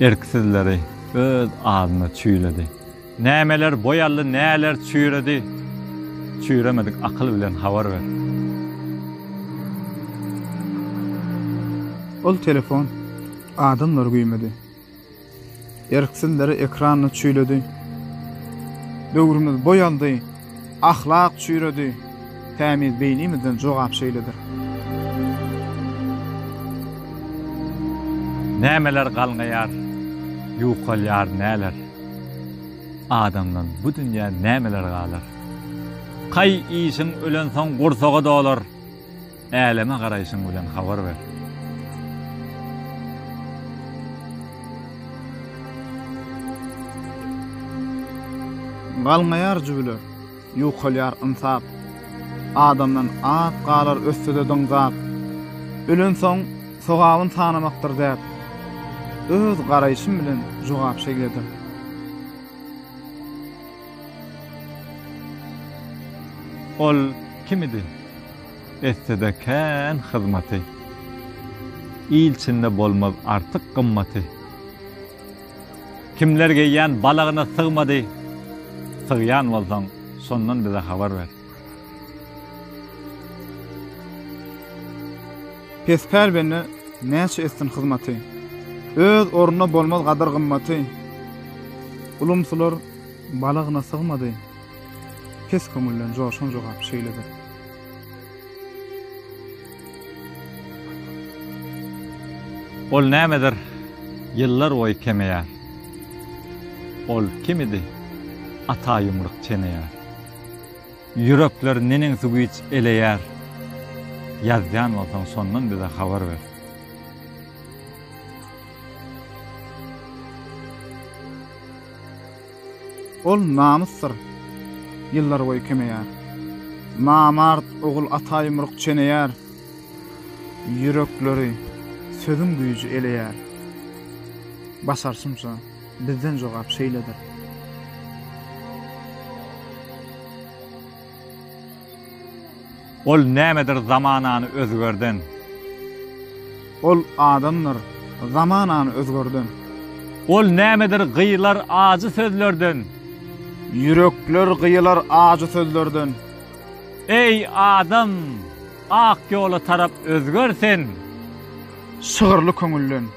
Erksizleri öz adyna çüýledi. Nämeler boýaldy, näler çüýredi, Çüýremedik akyl bilen habar ber. Ol telefon adamlary güýmedi. Erksizleri ekranyny çüýledi. Döwrümiz boýaldy. Ahlak çüýredi, tämiz beýnimizden jogap şeýledir. Nämeler galňaýar, ýukalýar näler? Adamdan bu dünýä nämeler galar? Kaý işiň ölensoň gursagy dolar. Äleme garaýşyň bilen habar ber. Galňaýar jübüler, ýukalýar ynsap, Adamdan az galar ösde-de dyňzap. Ölensoň sogabyn sanamakdyr däp, Öz garaýşym bilen jogap şeýledir. Ol kim idi? etse-de kän hyzmaty. Il içinde bolmaz artyk gymmaty. Kimler geýýän balagyna sygmady, sygýan bolsaň, şondan bize habar ber. Pespel bende näçe etsin hyzmaty. Öz ornuna bolmaz gadyr-gymmaty. Ulumsylar balagyna sygmady. Pes köňülden joşan jogap şeýledir. Ol nämedir ýyllar boýy kemeýär. Ol kimidi ata ýumruk çeneýär. Ýürekler neneňsi güýç eleýär. Ýazýan bolsaň şondan bize habar ber. Ol namysdyr. Ýyllarboýy kemeýär. Namart ogul ata ýumruk çeneýär. Ýürekleri sözüň güýji eleýär. Başarşymça, bizden jogap şeýledir. Ol nämedir zamanany özgerden. Ol adamdyr zamanany özgerden. Ol nämedir gyýylar ajy sözlerden. Ýürekler gyýylar ajy sözlerden. Eý, adam, ak ýola tarap özger sen. Şygyrly köňülden.